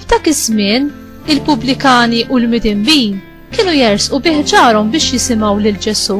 F'dak iż-żmien, il-pubblikani u l-midinbin kienu jersqu bih ġarhom biex jisimgħu lil Ġesù.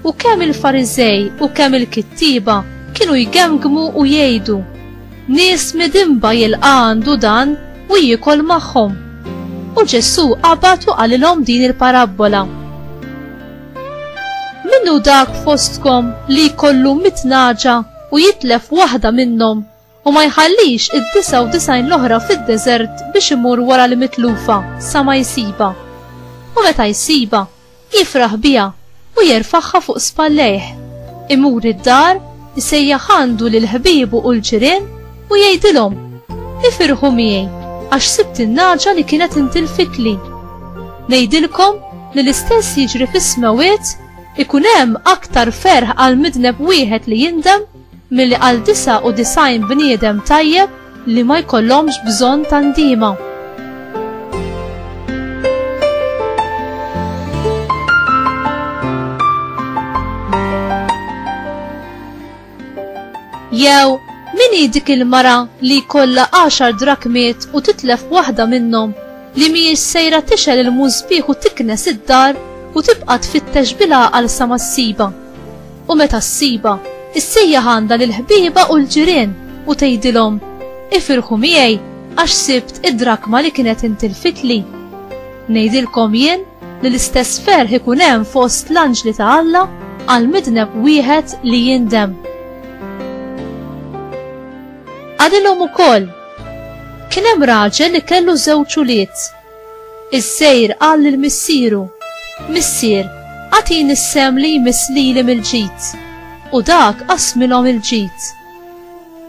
U kemm il-Fariżej u kemm il-kittieba kienu jgemgmu u jgħidu, Nies midinba jilqa' għandu dan u jiekol magħhom. U Ġesù qabad u qalilhom din il-parabbola. Minnu dak fostkom li jkollu mit naġa u jitlef waħda minnhom u ma jħallix id-99 l-oħra fid-deżert biex imur wara l-mitlufa sa ma jsibha. U meta jsibha, jifraħ biha u jerfagħha fuq spallejh. Imur id-dar, isejjaħ għandu lil ħbiebu u l-ġirien u jgħidilhom, Ifirħu miegħi għax sibt in-nagħġa li kienet intilfitli. Ngħidilkom li l-istess jiġri fis-smewwiet ikun hemm aktar ferħ għal midneb wieħed li jindem milli għal 99 bniedem tajjeb li ma jkollhomx bżonn ta' ndiema. Jew min hi dik il-mara li jkollha għaxar drakmiet u titlef waħda minnhom li mhijiex sejra tixel il-mużbieħ u tiknes id-dar u tibqa' tfittex bil-għaqal sa ma ssiba. U meta ssibha, issejjaħ għandha lill-ħbieba u l-ġirien u tgħidilhom, 'Ifirħu miegħi għax sibt id-drakma li kienet intilfitli. Ngħidilkom jien li l-istess ferħ ikun hemm fost l-anġli ta' Alla għal midneb wieħed li jindem. Għadilhom ukoll, kien hemm raġel li kellu żewġ ulied. Is-sejr qal lil missieru, Missier, agħtini s-sehem li jmiss lili mill-ġid. U dak qassmilhom il-ġid.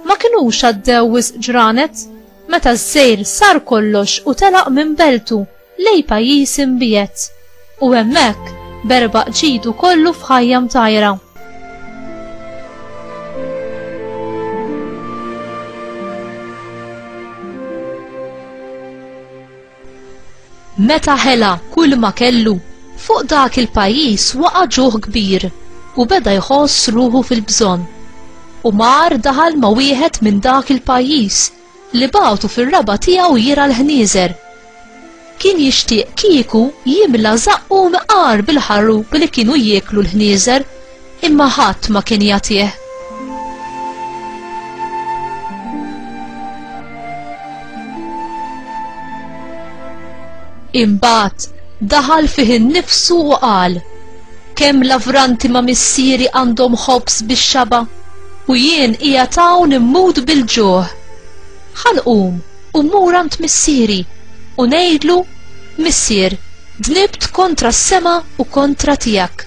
Ma kinux għaddew wisq ġranet meta s-sejr sar kollox u telaq minn beltu lejn pajjiż imbiegħed. U hemmhekk berbaq ġidu kollu f'ħajja mtajra. Meta ħela kull ma kellu, fuq dak il-pajjiż waqa' ġuħ kbir u beda jħoss ruħu fil-bżonn. U mar daħal ma' wieħed minn dak il-pajjiż li bagħtu fir-raba' tiegħu jirgħa l-ħnieżer. Kien jixtieq kieku jimla żaqqu mqar bil-ħarrup li kienu jieklu l-ħnieżer, imma ħadd ma kien jagħtih. Imbagħad daħal fih innifsu u qal, Kemm lavranti ma' missieri għandhom ħobż bix-xaba', u jien qiegħed hawn immut bil-ġuħ. Ħa nqum u mmur għand missieri u ngħidlu, 'Missier, dnibt kontra s-sema u kontra tiegħek.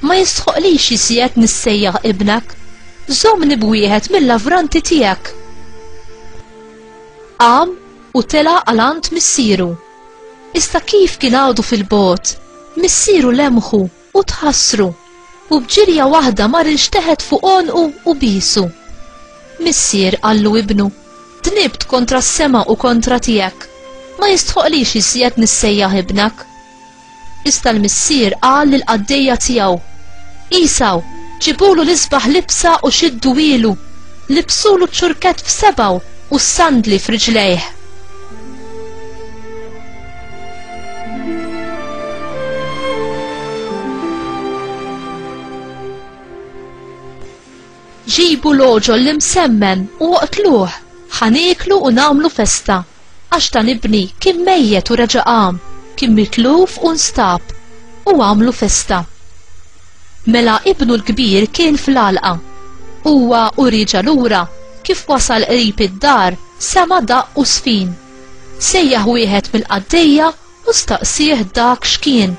Ma jistħoqlix iżjed nissejjaħ ibnek. Żommni b'wieħed mill-lavranti tiegħek.' Qam u tela' għal għand missieru. Iżda kif kien għadu fil-bogħod, missieru lemħu u tħassru, u b'ġirja waħda mar ilxteħet fuq għonqu u bisu. Missier qallu ibnu, dnibt kontra s-sema u kontra tiegħek, ma jistħoqlix iżjed nissejjaħ ibnek. Iżda l-missier qal lill-qaddejja tiegħu, Għesaw, ġibulu l-isbaħ libsa u xiddu ilu, libsulu ċ-ċurkett f'sebgħu u s-sandli f'riġlejh. Ġibu l-għoġol l-imsemmen u oqtluh, ħa nieklu u nagħmlu festa, għax dan ibni kien mejjet u reġa' qam, kien mitluf u nstab, u għamlu festa. Mela ibnu l-kbir kien fl-għalqa. Huwa u rieġa' lura, kif wasal qrib id-dar, sema' daqq u żfin. Sejjaħ wieħed mill-qaddejja u staqsieh dak x'kien.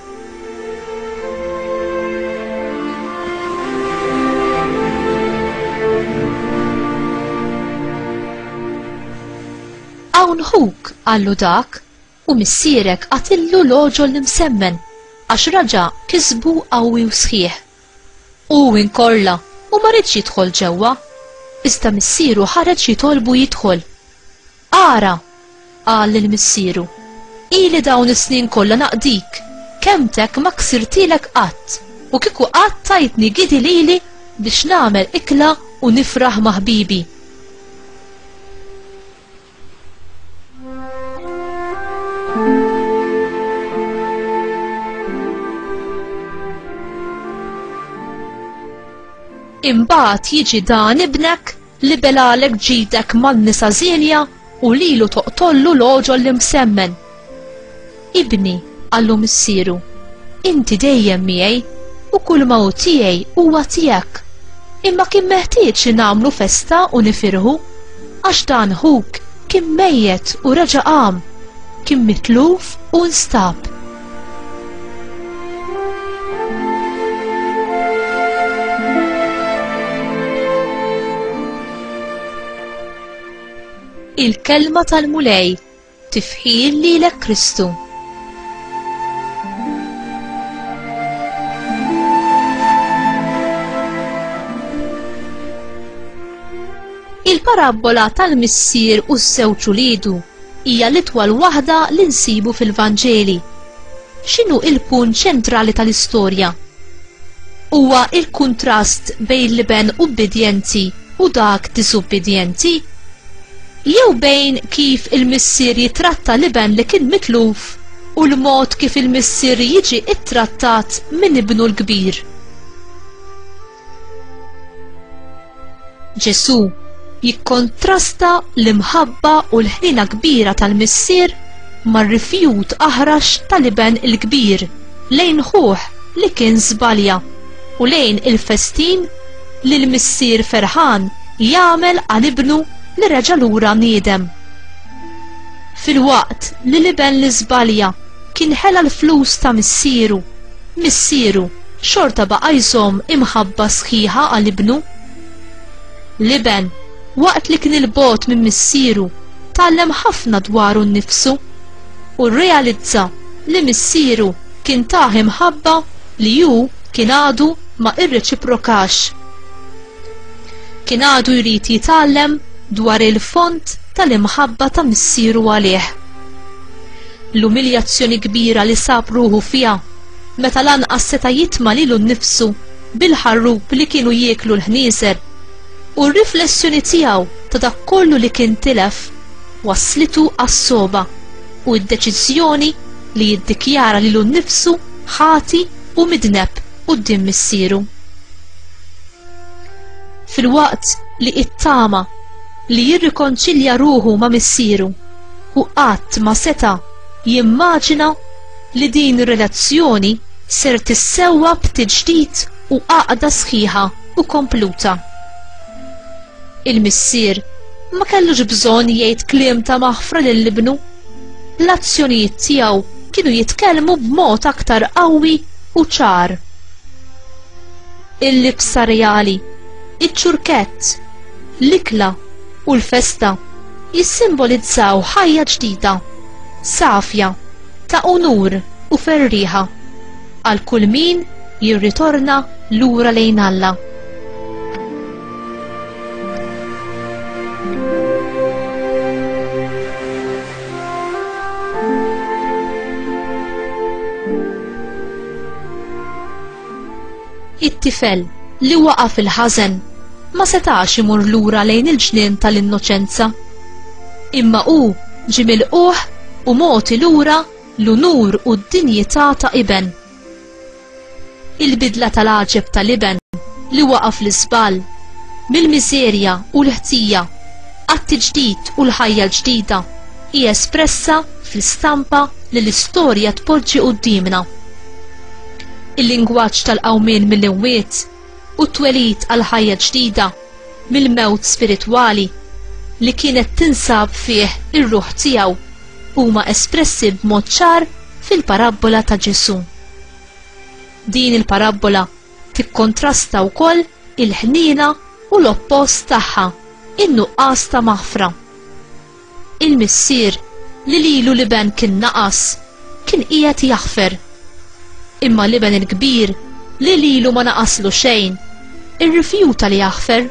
Hawn ħuk, qallu dak, u missierek qatillu l-għoġol l-imsemmen, għax raġa kisbu qawwi u sħiħ. U inkorla, u ma ridx jidħol ġewwa, iżda missieru ħareġ jitolbu jidħol. Ara! qal lil missieru, ili dawn is-snin kollha naqdik, kelmtek ma ksirtilek qatt, u kieku qatt tajtni gidi lili biex nagħmel ikla u nifraħ ma' ħbibi. Imbagħad jiġi dan ibnek Libelalek ġidek man-nisa żienja u lilu toqtollu l-għoġol l-imsemmen. Ibni, qallu missieru, inti dejjem miegħi u kull ma hu tiegħi huwa tiegħek. Imma kien meħtieġ li nagħmlu festa u nifirħu għax dan ħuk kien mejjet u reġa' qam, kien mitluf u nstab. il-kelma tal-Mulej tifħil lilek Kristu. Il-parabbola tal-missier u s-sewċu lidu hija l-itwal waħda li nsibu fil-Vanġeli. X'inhu l-punt ċentrali tal-istorja? Huwa l-kuntrast bejn l-iben ubbidjenti u dak diżubbidjenti? Jew bejn kif il-missier jitratta l-iben li kien mitluf u l-mod kif il-missier jiġi ttrattat minn ibnu l-kbir? Ġesù jikkontrasta l-imħabba u l-ħnina kbira tal-missier mar-rifjut aħrax tal-iben il-kbir lejn ħuh li kien żbalja u lejn il-festin li l-missier ferħan jagħmel għal ibnu li reġa' lura niedem. Filwaqt li l-iben li żbalja kien ħela l-flus ta' missieru, missieru xorta baqa' jżomm imħabba sħiħa għal ibnu. L-iben, waqt li kien il-bogħod minn missieru, tgħallem ħafna dwaru nnifsu u rrealizza li missieru kien tah imħabba li hu kien għadu ma irreċiprokax. Kien għadu jrid jitgħallem dwar il-fond tal-imħabba ta' missieru għalih. L-umiljazzjoni kbira li sab ruħu fiha meta lanqas seta' jitma' lilu nnifsu bil-ħarrub li kienu jieklu l-ħnieżer u r-riflessjoni tiegħu ta' dak kollu li kien tilef wasslitu għas-sogħba u d-deċiżjoni li jiddikjara lilu nnifsu ħati u midneb quddiem missieru. Filwaqt li it-tama li jirrikonċilja ruħu ma' missieru u qatt ma seta' jimmaġina li din ir-relazzjoni ser tissewwa b'tiġdid u għaqda sħiħa u kompluta. Il-missier ma kellux bżonn jgħid kliem ta' maħfra lil ibnu. L-azzjonijiet tiegħu kienu jitkellmu b'mod aktar qawwi u ċar. il-libsa reali, iċ-ċurkett, l-ikla u l-festa jissimbolizzaw ħajja ġdida, safja, ta' unur u ferrieħa għal kull min jirritorna lura lejn Alla. It-tifel li waqa' fil-ħażen ma setax imur lura lejn il-ġnien tal-innoċenza. Imma hu ġie milquh u mogħti lura l-unur u d-dinjità ta' iben. Il-bidla tal-għaġeb tal-iben li waqa' fl-iżball, mill-miżerja u l-ħtija, għat-tiġdid u l-ħajja l-ġdida, hi espressa fl-istampa li l-istorja tpoġġi quddiemna. Il-lingwaġġ tal-qawmien mill-imwiet u t-twelid għal ħajja ġdida mill-mewt spiritwali li kienet tinsab fih ir-ruħ tiegħu huma espressi b'mod ċar fil-parabbola ta' Ġesù. Din il-parabbola tikkontrasta wkoll il-ħniena u l-oppost tagħha, in-nuqqas ta' maħfra. Il-missier li lilu l-iben kien naqas, kien qiegħed jaħfer. Imma l-iben il-kbir li lilu ma naqaslu xejn, irrifjuta li jaħfer.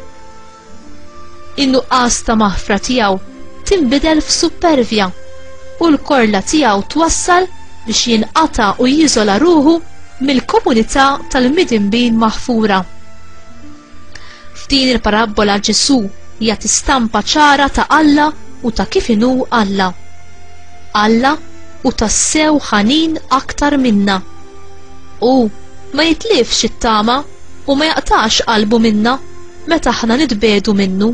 In-nuqqas ta' maħfra tiegħu tinbidel f'suppervja u l-korla tiegħu twassal biex jinqata' u jiżola ruħu mill-komunità tal-midinbin maħfura. F'din il-parabbola Ġesù jagħti stampa ċara ta' Alla u ta' kif inhu Alla. Alla u tassew ħanin aktar minna. U ma jitlifx it-tama u ma jaqtax qalbu minna meta aħna nitbedu minnu.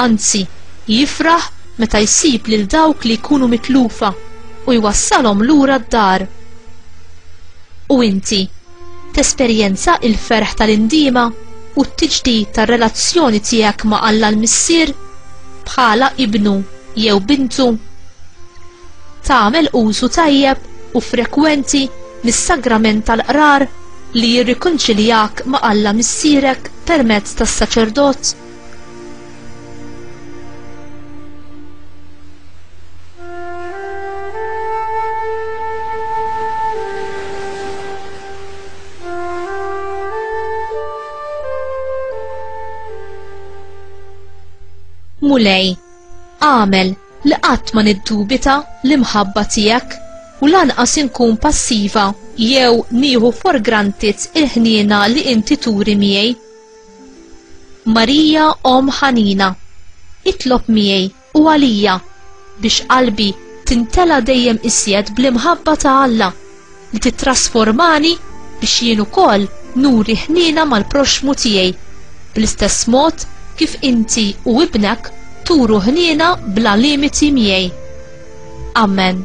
Anzi, jifraħ meta jsib lil dawk li jkunu mitlufa u jwassalhom lura d-dar. U inti, Tesperjenza l-ferħ tal-indiema u t-tiġdid tar-relazzjoni tiegħek ma' Alla l-Missier bħala ibnu jew bintu. Tagħmel użu tajjeb u frekwenti mis-sagrament tal-qrar li jirrikonċiljak ma' Alla Missierek permezz tas-saċerdot. Mulej, għamel li qatt ma niddubita l-imħabba tiegħek u lanqas inkun passiva jew nieħu for granted il-ħniena li inti turi miegħi. Marija omm ħanina, itlob miegħi u għalija biex qalbi tintela' dejjem iżjed bl-imħabba ta' Alla li tittrasformani biex jien ukoll nuri ħniena mal-proxxmu tiegħi bl-istess mod kif inti u Ibnek turu ħniena bla limiti miegħi. Amen.